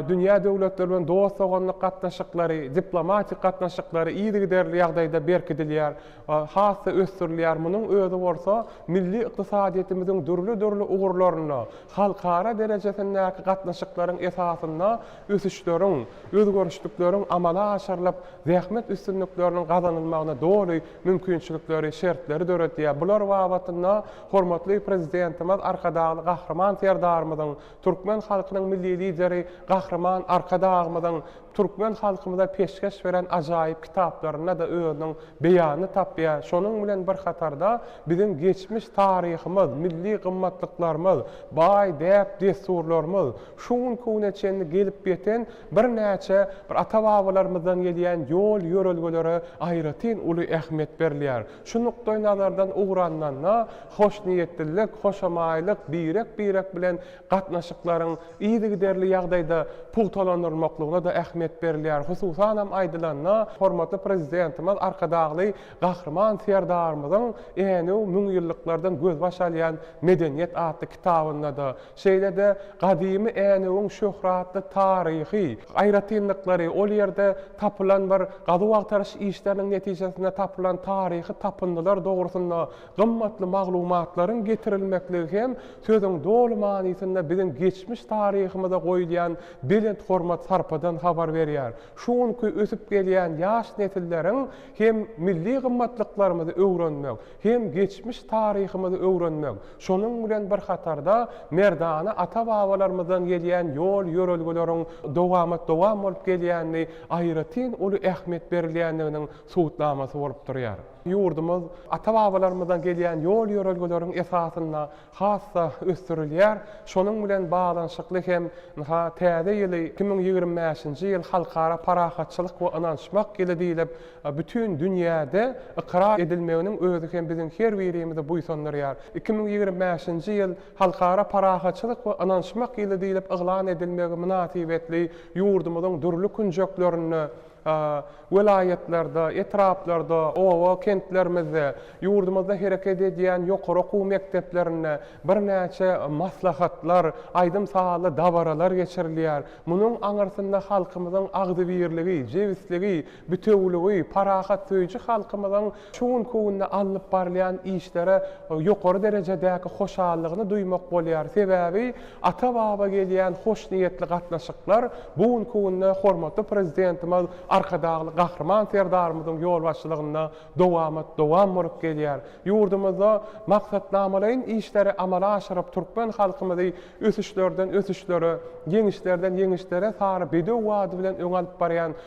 Speaker 3: dünýä döwletleri bilen dost-doganlyk gatnaşyklary, diplomatik gatnaşyklary yzygiderli ýagdaýda berkidilýär, has-da ösdürilýär. Munuň özi bolsa milli ykdysadyýetimiziň dürli-dürli ugurlarynda halkara derejesindäki gatnaşyklaryň esasynda ösüşleriň, özgerişlikleriň amala aşyrylyp, zähmet üstünlikleriniň gazanylmagyna doly mümkinçilikleri, şertleri döredýär. Bular babatynda hormatly Prezidentimiz Arkadagly Gahryman Serdarymyzyň, türkmen halkynyň Milli Lideri Gahryman Arkadagymyzyň türkmen halkymyza peşgeş beren ajaýyp kitaplarynda-da özüniň beýanyny tapýar. Şonuň bilen bir hatarda, biziň geçmiş taryhymyz, milli gymmatlyklarymyz, baý däp-dessurlarymyz, Şu gün köwne çenli gelip ýeten birnäçe bir ata-babalarymyzdan gelýän ýol-ýörelgelere aýratyn uly ähmiýet berilýär. Şu nukdaýnazardan ugralnanda, hoşniýetlilik, hoşamaýlyk, birek-birek bilen gatnaşyklaryň yzygiderli ýagdaýda pugtalandyrylmaklygyna-da ähmiýet berilýär. Hususanam aýdylanda, hormatly Prezidentimiz Arkadagly Gahryman Serdarymyzyň Änew müňýyllyklardan gözbaş alýan medeniýet atly kitabynda-da, Şeýle-de gadymy Änewiň şöhratly taryhy aýratynlyklary, ol ýerde tapylan bir gazuw-agtaryş işleriniň netijesinde tapylan taryhy tapyndylar dogrusynda gymmatly maglumatlaryň getirilmekligi hem sözüň doly manysynda biziň geçmiş taryhymyza goýulýan belent hormat-sarpadan habar berýär, şu günki ösüp gelýän ýaş nesilleriň hem milli gymmatlyklarymyzy öwrenmek, hem geçmiş taryhymyzy öwrenmek, şonuň bilen bir hatarda merdana ata-babalarymyzdan gelýän ýol-ýörelgeleriň dowamat-dowam bolup gelýänini aýratyn uly ähmiýet berilýändiginiň subutnamasy bolup durýar. Ýurdumyz ata-babalarymyzdan gelýän ýol-ýörelgeleriň esasynda has-da ösdürilýär. Şonuň bilen baglanyşykly hem ynha täze ýyly iki müň ýigrimi bäşinji ýyl Halkara parahatçylyk we ynanyşmak ýyly diýlip bütin dünýäde ykrar edilmeginiň özi hem biziň her birimizi buýsandyrýar. Iki müň ýigrimi bäşinji ýyl Halkara parahatçylyk we ynanyşmak ýyly diýlip yglan edilmegi mynasybetli ýurdumyzyň dürli künjeklerinde, welaýatlarda, etraplarda, oba, kentlerimizde, ýurdumyzda hereket edýän ýokary okuw mekdeplerinde birnäçe maslahatlar, aýdym-sazly dabaralar geçirilýär. Munuň aňyrsynda halkymyzyň agzybirligi, jebisligi, bitewüligi, parahatsöýüji halkymyzyň Şu günki günde alnyp barylýan işlere ýokary derejedäki hoşallygyny duýmak bolýar, sebäbi ata-baba gelýän hoşniýetli gatnaşyklar bu günki günde hormatly Prezidentimiz Arkadagly Gahryman Serdarymyzyň ýolbaşçylygynda dowamat dowam bolup gelýär. Ýurdumyzda maksatnamalaýyn işleri amala aşyryp, türkmen halkymyzy ösüşlerden ösüşlere, ýeňişlerden ýeňişlere sary bedew bady bilen öňe alyp barýan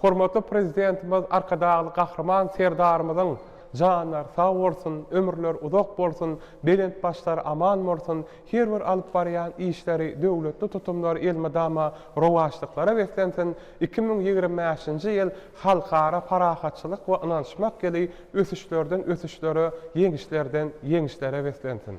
Speaker 3: Hormatly Prezidentimiz Arkadagly Gahryman Serdarymyzyň janlary sag bolsun, ömürleri uzak bolsun, belent başlary aman bolsun, her bir alyp barýan işleri, döwletli tutumlary elmydama rowaçlyklara beslensin, iki müň ýigrimi bäşinji ýyl Halkara parahatçylyk we ynanyşmak ýyly ösüşlerden ösüşlere, ýeňişlerden ýeňişlere beslensin!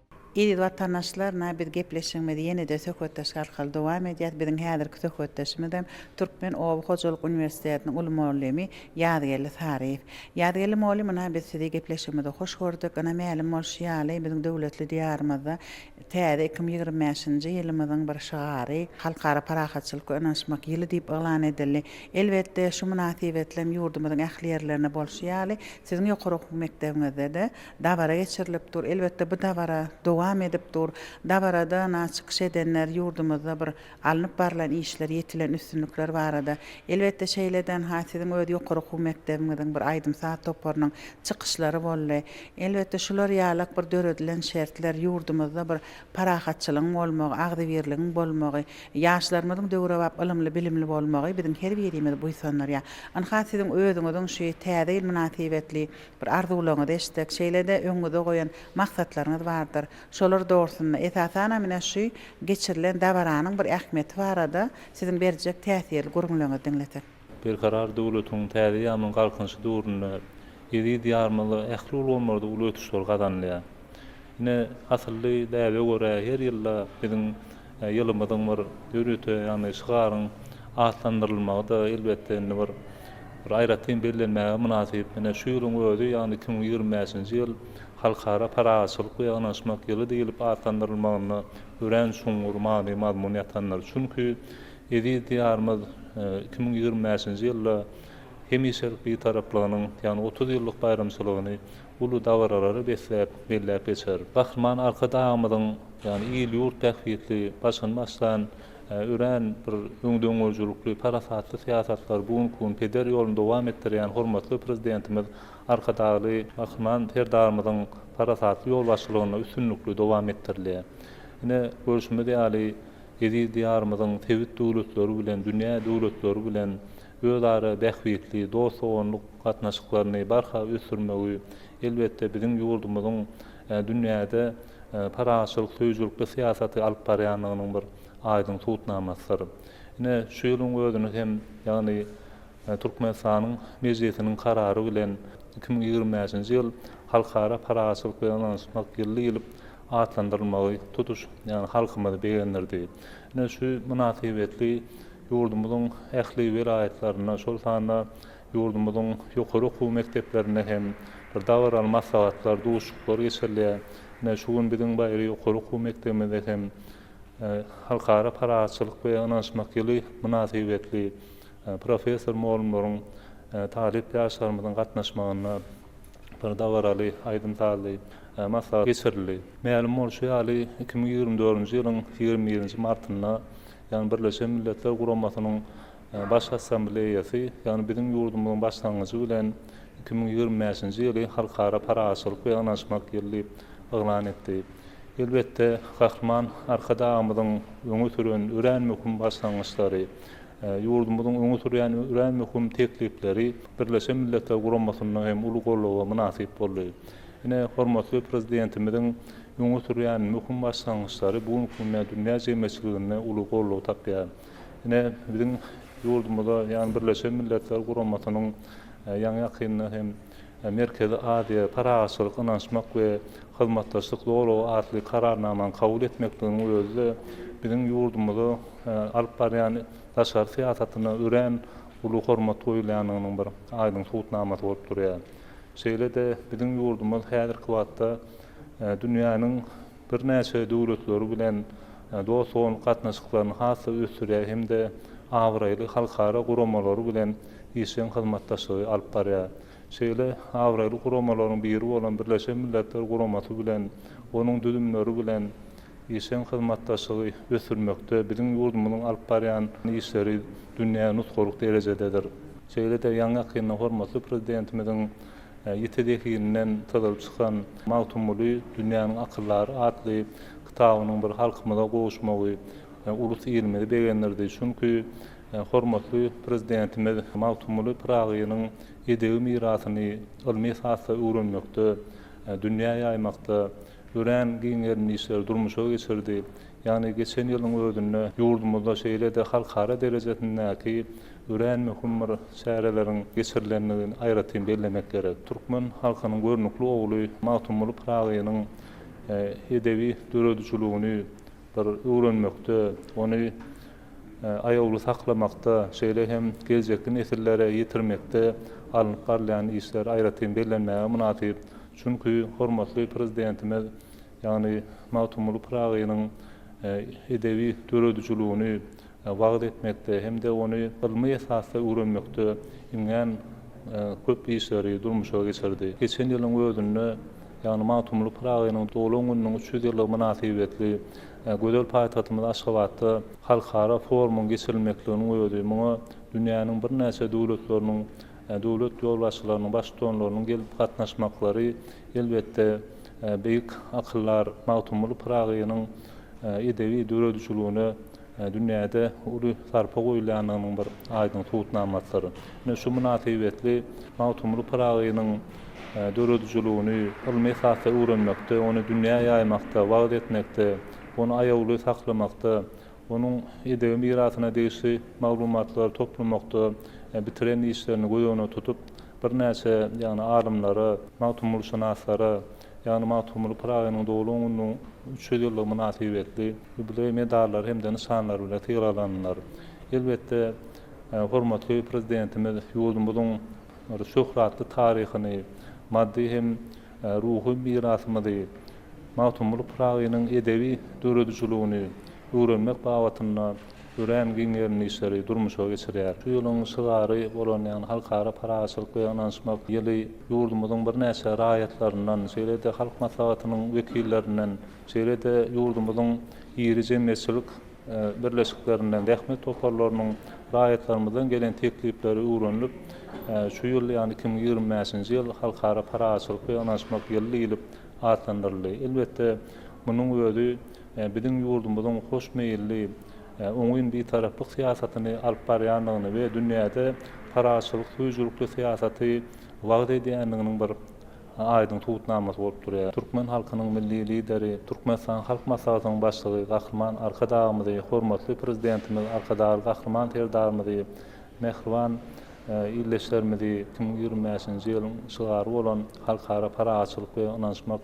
Speaker 1: Eziz watandaşlar na biz gepleşigimizi ýenede söhbetdeşik arkaly dowam edýäs. Biziň häzirki söhbetdeşimizem Türkmen oba hojalyk uniwersitetiniň uly molymy Ýazgeldi Saryýew. Ýazgeldi molym ina biz sizi gepleşigimizde hoş gördük. Ina mälim bolşy ýaly biziň döwletli diýarymyzda täze iki müň ýigrimi bäşinji ýylymyzyň bir şygary Halkara parahatçylykga ynanyşmak ýyly diýip yglan edildi. Elbetde şu mynasybetlem ýurdumyzyň ähli ýerlerinde bolşy ýaly siziň ýokary okuw mekdebiňizdede Dabara geçirilip dur. Elbetde bu dabara dowam edip dur. Dabarada na çykyş edenler ýurdumyzda bir alnyp barlan işler, ýetilen üstünlikler barada, elbetde şeýleden ha siziň öz ýokary okuw mekdebiňiziň bir aýdym-saz toparynyň çykyşlary boldy. Elbetde şular ýalak bir döredilen şertler, ýurdumyzda bir parahatçylygyň bolmagy, agzybirligiň bolmagy, ýaşlarymyzyň döwrebap ylymly-bilimli bolmagy biziň her birimizi buýsandyrýar. Ynha siziň özüňiziň şu Täze ýyl mynasybetli Bir arzuwlaryňyzy eşitsek, şeýle-de öňüňizde goýan maksatlaryňyz bardyr. Şolar dogrusynda, esasanam ine şu geçirilen dabaranyň bir ähmiýeti barada siziň berjek täsirli gürrüňleriňizi diňlesek. Berkarar
Speaker 4: döwletiň täze ýaman galkynyşy döwründe eziz Diýarymyzda ähli ulgamlarda uly ösüşler gazanylýar. Ine, asylly däbe görä, her ýylda biziň Ýylymyzyň bir döwlete, ýagny şygaryň atlandyrylmagy-da, elbetde, indi bir aýratyn bellenmäge mynasyp. Ine, şu ýylyň özi, ýagny iki müň ýigrimi bäşinji ýyl Halkara parahatçylyk we ýygnanyşmak ýyly diýlip atlandyrylmagynda örän çuňňur many-mazmun ýatandyr. Çünki eziz Diýarymyz iki müň ýigrimi bäşinji ýylda hemişelik Bitaraplygynyň, ýagny otuz ýyllyk baýramçylygyny uly dabaralary besläp, belläp geçer. Gahryman Arkadagymyzyň, ýagny il-ýurt bähbitli başyny başlan örän bir öňdengörüjilikli, parasatly syýasatlary bu günki gün peder ýoluny dowam etdirýän hormatly Prezidentimiz Arkadagly Gahryman Serdarymyzyň parasatly ýolbaşçylygynda üstünlikli dowam etdirilýär. Ine, görşümiz ýaly, eziz Diýarymyzyň sebit döwletleri bilen, dünýä döwletleri bilen, özara bähbitli, dost-doganlyk gatnaşyklaryny barha ösdürmegi, elbetde, biziň ýurdumyzyň dünýäde parahatçylyk söýüjilikli syýasaty alyp barýandygynyň bir aýdyň subutnamasydyr. Ine, şu ýylyň özüni hem, ýagny Türkmenistanyň Mejlisiniň karary bilen iki müň ýigrimi bäşinji ýyl Halkara parahatçylyk we ynanyşmak ýyly diýlip atlandyrylmagy tutuş ýagny halkymyzy begendirdi. Ine, şu mynasybetli Ýurdumyzyň ähli welaýatlarynda, şol sanda ýurdumyzyň ýokary okuw mekdeplerinde hem bir dabaraly maslahatlar, duşuşyklar geçirilýär. Ine, şu gün biziň Baýry ýokary okuw mekdebimizde hem Halkara parahatçylyk we ynanyşmak ýyly mynasybetli professor-mugallymlaryň talyp ýaşlarymyzyň gatnaşmagynda bir dabaraly aýdym-sazly maslahat geçirildi. Mälim bolşy ýaly, iki müň ýigrimi dördünji ýylyň ýigrimi birinji martynda ýagny Birleşen Milletler Guramasynyň Baş Assambleýasy, ýagny biziň ýurdumyzyň başlangyjy bilen iki müň ýigrimi bäşinji ýyly Halkara parahatçylyk we ynanyşmak ýyly diýip yglan etdi. Elbetde, Gahryman Arkadagymyzyň öňe süren örän möhüm başlangyçlary, ýurdumyzyň öňe sürýän örän möhüm teklipleri Birleşen Milletler Guramasynda hem uly goldawa mynasyp boldy. Ine, hormatly Prezidentimiziň öňe sürýän möhüm başlangyçlary bu günki günde dünýä jemgyýetçiliginde uly goldaw tapýar. Ine, biziň ýurdumyza, ýagny Birleşen Milletler Guramasynyň ýaňy-ýakynda hem Merkezi Aziýa, parahatçylyk, ynanyşmak we hyzmatdaşlyk zolagy atly Kararnamany kabul etmekliginiň özi-de biziň ýurdumyza alyp barýan daşary syýasatyna örän uly hormat goýulýandygynyň bir aýdyň subutnamasy bolup durýar. Şeýle-de biziň ýurdumyz häzirki wagtda dünýäniň birnäçe döwletleri bilen dost-doganlyk gatnaşyklaryny has-da ösdürýär hem-de abraýly halkara guramalary bilen işjeň hyzmatdaşlygy alyp barýar. Şeýle abraýly guramalaryň biri bolan Birleşen Milletler Guramasy bilen, onuň düzümleri bilen işjeň hyzmatdaşlygy ösdürmekde biziň ýurdumyzyň alyp barýan işleri dünýä nusgalyk derejededir. Şeýle-de ýaňy-ýakynda hormatly Prezidentimiziň ýiti zehininden syzylyp çykan Magtymguly, dünýäniň akyldary atly kitabynyň bir halkymyza gowuşmagy ulus-ilimizi begendirdi. Çünki hormatly Prezidentimiz Magtymguly Pyragynyň edebi mirasyny ylmy esasda öwrenmekde, dünýä ýaýmakda Örän giň gerimli işleri durmuşa geçirdi. Ýagny geçen ýylyň özünde ýurdumyzda şeýle-de halkara derejesindäki örän möhüm bir çäreleriň geçirilendigini aýratyn bellemek gerek. Türkmen halkynyň görnükli ogly Magtymguly Pyragynyň edebi döredijiligini bir öwrenmekde, ony aýawly saklamakda, şeýle hem geljekki nesillere ýetirmekde alnyp barylýan işler aýratyn bellenmäge mynasyp. Çünki hormatly Prezidentimiz, ýagny Magtymguly Pyragynyň edebi döredijiligini wagyz etmekde hem-de ony ylmy esasda öwrenmekde iňňän köp işleri durmuşa geçirdi. Geçen ýylyň özünde, ýagny Magtymguly Pyragynyň doglan gününiň üç ýüz ýyllygy mynasybetli gözel paýtagtymyz Aşgabatda halkara forumyň geçirilmekliginiň özi muňa dünýäniň birnäçe döwletleriniň Döwlet ýolbaşçylarynyň, baştutanlarynyň gelip gatnaşmaklary, elbetde, beýik akyldar Magtymguly Pyragynyň edebi döredijiligine dünýäde uly sarpa goýulýandygynyň bir aýdyň subutnamasydyr. Ine, şu mynasybetli Magtymguly Pyragynyň döredijiligini ylmy esasda öwrenmekde, ony dünýä ýaýmakda, wagyz etmekde, ony aýawly saklamakda, onuň edebi mirasyna degişli maglumatlary toplamakda bitiren işlerini göz öňüne tutup, birnäçe, ýagny alymlara, magtymgulyşynaslara, ýagny Magtymguly Pyragynyň doglan gününiň üç ýüz ýyllygy mynasybetli ýubileý medallary hem-de nyşanlary bilen sylaglandylar. Elbetde, hormatly Prezidentimiz ýurdumyzyň şöhratly taryhyny, maddy hem. ruhy mirasymyzy, Magtymguly Pyragynyň edebi döredijiligini öwrenmek babatynda örän giň gerimli işleri durmuşa geçirýär. Şu ýylyň şygary bolan, ýagny Halkara parahatçylyk we ynanyşmak ýyly ýurdumyzyň birnäçe raýatlaryndan, şeýle-de Halk Maslahatynyň wekillerinden, Şeýle-de ýurdumyzyň iri jemgyýetçilik birleşiklerinden, zähmet toparlarynyň raýatlarymyzdan gelen teklipleri öwrenilip, şu ýyl, ýagny iki müň ýigrimi bäşinji ýyl Halkara parahatçylyk we ynanyşmak ýyly diýlip atlandyryldy. Elbetde, munuň özi biziň ýurdumyzyň hoşmeýilli, oňyn bitaraplyk syýasatyny alyp barýandygyny we dünýäde parahatçylyk söýüjilikli syýasaty wagyz edýändiginiň bir aýdyň subutnamasy bolup durýar. Türkmen halkynyň Milli Lideri, Türkmenistanyň Halk Maslahatynyň Başlygy Gahryman Arkadagymyzy, hormatly Prezidentimiz Arkadagly Gahryman Serdarymyzy, mähriban ildeşlerimizi iki müň ýigrimi bäşinji ýylyň şygary bolan Halkara parahatçylyk we ynanyşmak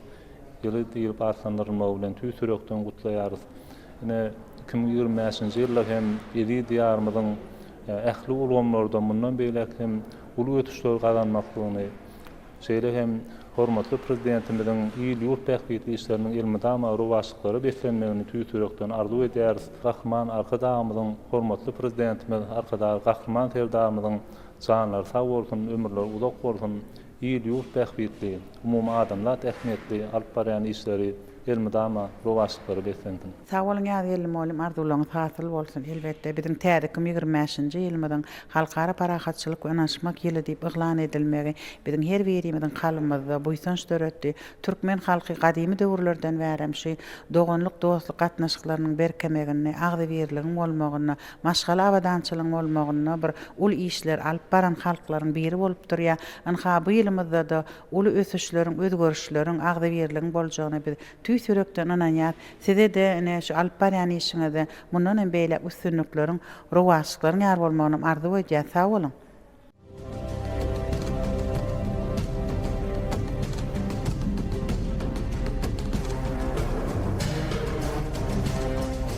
Speaker 4: ýyly diýlip atlandyrylmagy bilen tüýs ýürekden gutlaýarys. Ine, iki müň ýigrimi bäşinji ýylda hem eziz Diýarymyzyň ähli ulgamlarda mundan beýläk hem uly ösüşleri gazanmaklygyny, Şeýle hem hormatly Prezidentimiziň il-ýurt bähbitli işleriniň elmydama rowaçlyklara beslenmegini tüýs ýürekden arzuw edýäris. Gahryman Arkadagymyzyň, hormatly Prezidentimiz Arkadagly Gahryman Serdarymyzyň janlary sag bolsun, ömürleri uzak bolsun, il-ýurt bähbitli, umumadamzat ähmiýetli alyp barýan işleri, Elmydama rowaçlyklary beslensin. Sag bol Nyýazgeldi
Speaker 1: mugallym arzuwlaryňyz hasyl bolsun. Elbetde biziň täze iki müň ýigrimi bäşinji ýylymyzyň Halkara parahatçylyk we ynanyşmak ýyly diýip yglan edilmegi biziň her birimiziň kalbymyzda buýsanç döretdi. Türkmen halky gadymy döwürlerden bärem şy doganlyk dostluk gatnaşyklarynyň berkemeginde agzybirligiň bolmagynda maşgala abadançylygyň bolmagynda bir uly işler alyp baran halklaryň biri bolup durýar. Ynha bu ýylymyzdada Uly ösüşleriň, özgerişleriň, agzybirligiň boljagyna biz tüýs ýürekden ynanýas. Size-de, ine, şu alyp barýan işiňizde mundan hem beýläk üstünlikleriň, rowaçlyklaryň ýar bolmagynam arzuw edýäs. Sag boluň!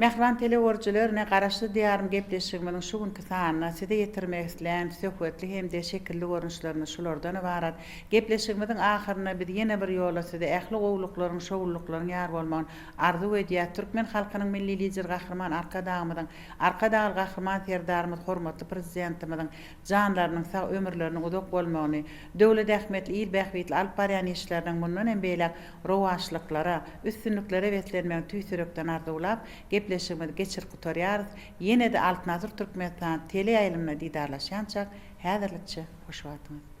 Speaker 1: Mähriban teleworjiler ne Garaşsyz Diýarym gepleşigimiziň şu günki sanyna size ýetirmek islän söhbetli hem-de şekilli görnüşlerimiz şulardan ybarat. Gepleşigimiziň ahyrynda biz ýene bir ýola size ähli gowulyklaryň, şowlulyklaryň ýar bolmagyny arzuw edýäs. Türkmen halkynyň Milli Lideri Gahryman Arkadagymyzyň Arkadagly Gahryman Serdarymyz hormatly Prezidentimiziň janlarynyň sag, ömürleriniň uzak bolmagyny, döwlet ähmiýetli, il bähbitli alyp barýan işleriniň mundan hem beýläk rowaçlyklara, üstünliklere beslenmegini tüýs ýürekden arzuwlap, gepleşigimizi geçirip gutarýarys. Ýene-de Altyn asyr Türkmenistany teleýaýlymynda didarlaşýançak, häzirlikçe hoş wagtyňyz!